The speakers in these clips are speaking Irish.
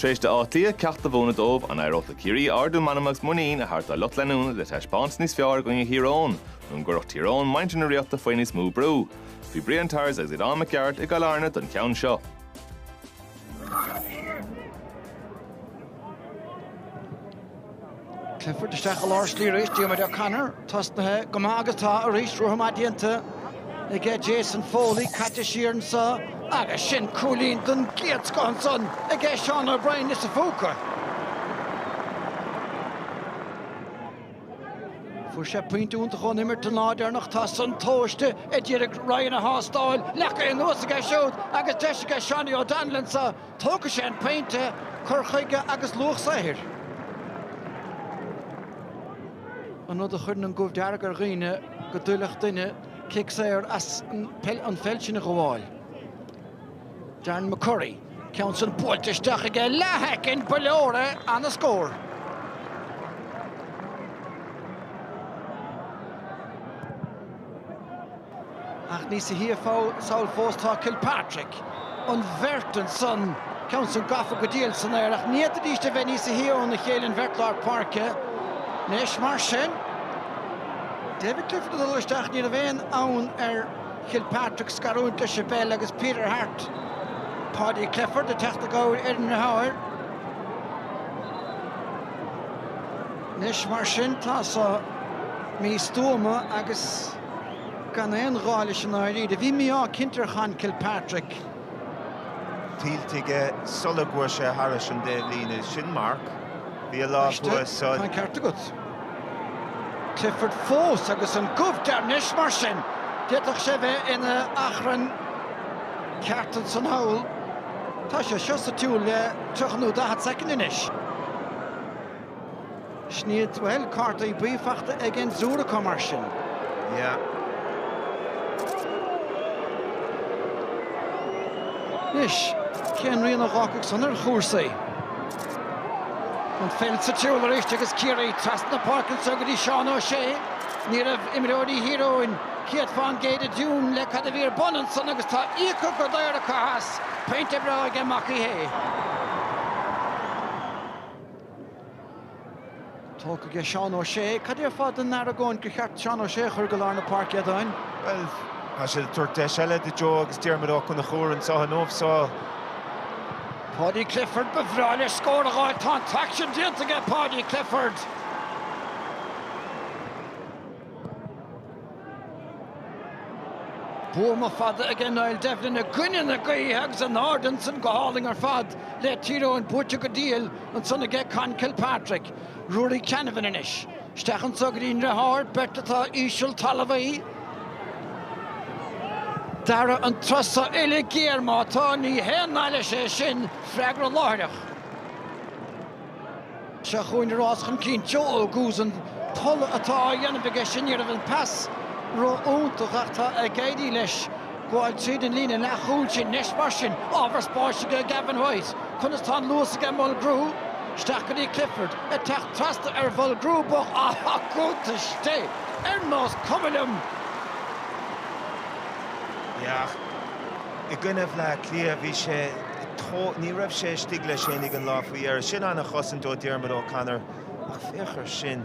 Tar éis d'Áth Cliath ceacht a mhúineadh dóibh, an éireodh le Ciarraí ardú meanma agus muinín a thabhairt dá lucht leanúna le taispeáint níos fearr i gcoinne Thír Eoghain, nó an gcuirfeadh Tír Eoghain muintir na Ríochta faoi níos mó brú? Bhí Brian Tyers agus Aodán Mac Gearailt i gCill Airne don cheann seo. Clifford isteach i lár slí arís, Diarmuid O'Connor tosnaithe go maith agus tá arís rogha maith déanta aige Jason Foley, caite siar anseo agus sin cúilín den gcéad scoth ansan aige Seán O'Brien sa phóca. Fuair sé pointe iontach ón imirt an lá deireanach, tá san tomhaiste a d'iarraidh Ryan a thástáil, leagtha anuas aige siúd agus deis aige Seanie O'Donnell anseo. Tógfaidh sé an pointe cur chuige agus luach saothair, an rud a chuireann an gomh dearg ar dhaoine, go dtuillfeadh duine cic saor as an pheil sin a ghabháil. Darren McCurry, ceann san buailte isteach aige i leathshoicind, ba leor é, an-scór. Ach níosa shia sall fós tá Kilpatrick. An bheirt ansan, ceann san gafa go diail san aer, ach ní fhéadfaidís a bheith níosa shia óna chéile an bheirt lár páirce. Anois mar sin, David Clifford ag dul isteach, ní raibh aon fhonn ar Kilpatrick scarúint leis an bpeil agus Peter Harte, Paudie Clifford, ag teacht i gcabhair ar an ndeartháir. Anois mar sin tá so místuama agus. Gan aon ghá leis i ndáiríre, bhí mí-ádh cinnte ar Chonn Kilpatrick. tuillte aige sula gcuaigh sé thairis an dtaobhlíne. Sin marc. Bhí a lámh thuas sa. Tá an ceart agat. Clifford fós agus an gomh dearg anois mar sin! D'fhéadfadh sé bheith ina achrann ceart ansan thall. Tá sé seo sa tsiúl le 30 nó 40 soicind anois. Sin iad, Bhuel, cártaí buí fachta ag an dtriúr acu mar sin. Yeah. Anois, cén rian a dh'fhágfadh san ar chúrsaí? An pheil sa tsiúl arís agus Ciarraí trasna na páirce anseo go dtí Seán O'Shea. Ní raibh imreoirí Thír Eoghain céad fán gcéad i dtiún le cad a bhí ar bun ansan agus tá íoctha go daor acu as. Pointe breá aige Mac Uí Shé. Tógtha aige Seán Ó Sé. Cad déarfá don argóint gur cheart Seán Ó Sé a chur go lár na páirce, a Aodáin? Bhuel, tá sé ag tabhairt deis eile do Joe agus Diarmuid Ó Conchúir anseo inniu so. Paudie Clifford, ba bhreá leis scór a dh'fháil. Tá an t-aicsean déanta aige Paudie Clifford. Buama fada aige Niall Devlin i gcoinne na gaoithe agus in airde ansan go hálainn ar fad le Tír Eoghain buaite go diail ansan aige Conn Kilpatrick, Ruairí Canavan anois. Isteach anso go dtí an ndriotháir, beirt atá íseal talmhaí. Darragh an turas so, uille ghéar má tá, ní haon nath leis é sin, freagra láithreach. Seo chugainn rás chun cinn Joe Oguz. An tolladh atá á dhéanamh aige sin, ní raibh an pas ró-iontach ach tá ag éirí leis gabháil tríd an líne leathchúil sin. Anois mar sin, ábhar spáis aige Gavin White. Conas tá an luas aige Mulgrew? Isteach go dtí Clifford. Ag teacht trasna ar Mhulgrew, bog á i gcuntais Dé! Ar nós cuma liom! Ach i gcoinne Bhleá Cliath bhí sé. Tá. Ní raibh sé istigh leis féinig an lá faoi dheireadh. Sin ana-chosaint ó Diarmuid O'Connor ach féach ar sin.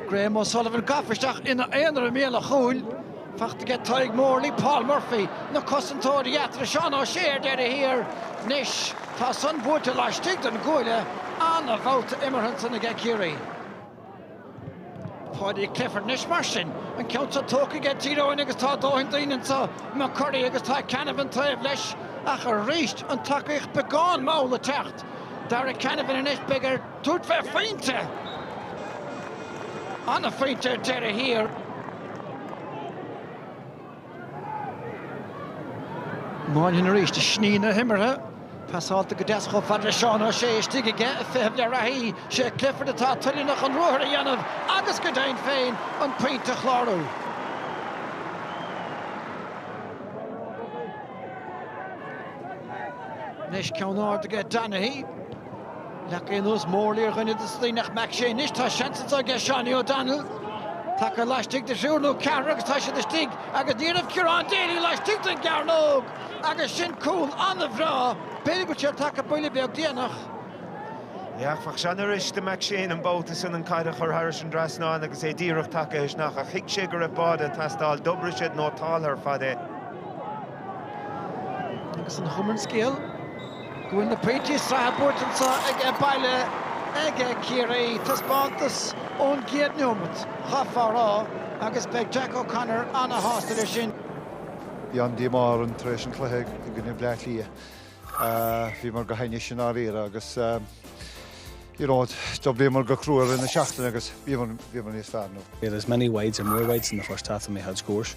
Graham O'Sullivan gafa isteach ina aonar i mbéal an chúil. Fachta aige Tadhg Morley, Paul Murphy, na cosantóirí eatarthu. Seán O'Shea ar deireadh thiar. Anois tá san buailte laistigh den gcuaille. Ana-bhabhta imeartha ansan aige Ciarraí. Paudie Clifford, Anois mar sin, an ceann seo tógtha aige Tír Eoghain agus tá dóthain daoine anso, McCurry agus tá Canavan taobh leis ach arís an tacaíocht beagán mall ag teacht. Darragh Canavan, Anois beidh air tabhairt fé phointe, ana-phointe ar deireadh thiar. Moynihan arís ag sníomh na himeartha pasálta go deas chomh fada le Seán O'Shea istigh aige ag feitheamh le reathaí sé Clifford atá toilteanach an ruathar a dhéanamh agus go deimhin féin an phointe a chlárú. Anois ceann ard aige Donaghy. Leag é anuas Morley ar dhuine de na daoine ach McShane anois tá seans anso aige Seánie O'Donnell tagtha laistigh de thriúr nó ceathrar agus tá siad istigh agus ní raibh Ciarán Daly laistigh den gcearnóg agus sin cúl an-bhreá b'fhéidir go bhfuil sé tagtha buille beag déanach áfach. Seans arís do McShane an babhta san an chaid a chur thairis an dtrasnán agus é díreach tagtha isteach ach thuig sé go raibh báide ag teastáil d'oibrigh siad nótálta ar fad é. Agus an chuma ar an scéal. go bhfuil na pointí sraithe buaite anso ag baile aige Ciarraí, taispeántas ón gcéad neomat, chaithfeá a rá, agus beidh Jack O'Connor ana-shásta leis sin. Bhí an-díomá orainn tar éis an chluiche i gcoinne Bhleá Cliath. Bhíomar go hainnis i ndáiríre agus you know d'oibríomar go crua i rith na seachtaine agus bhíomar níos fearr nó. We had as many wides or more wides in the first half than we had scores.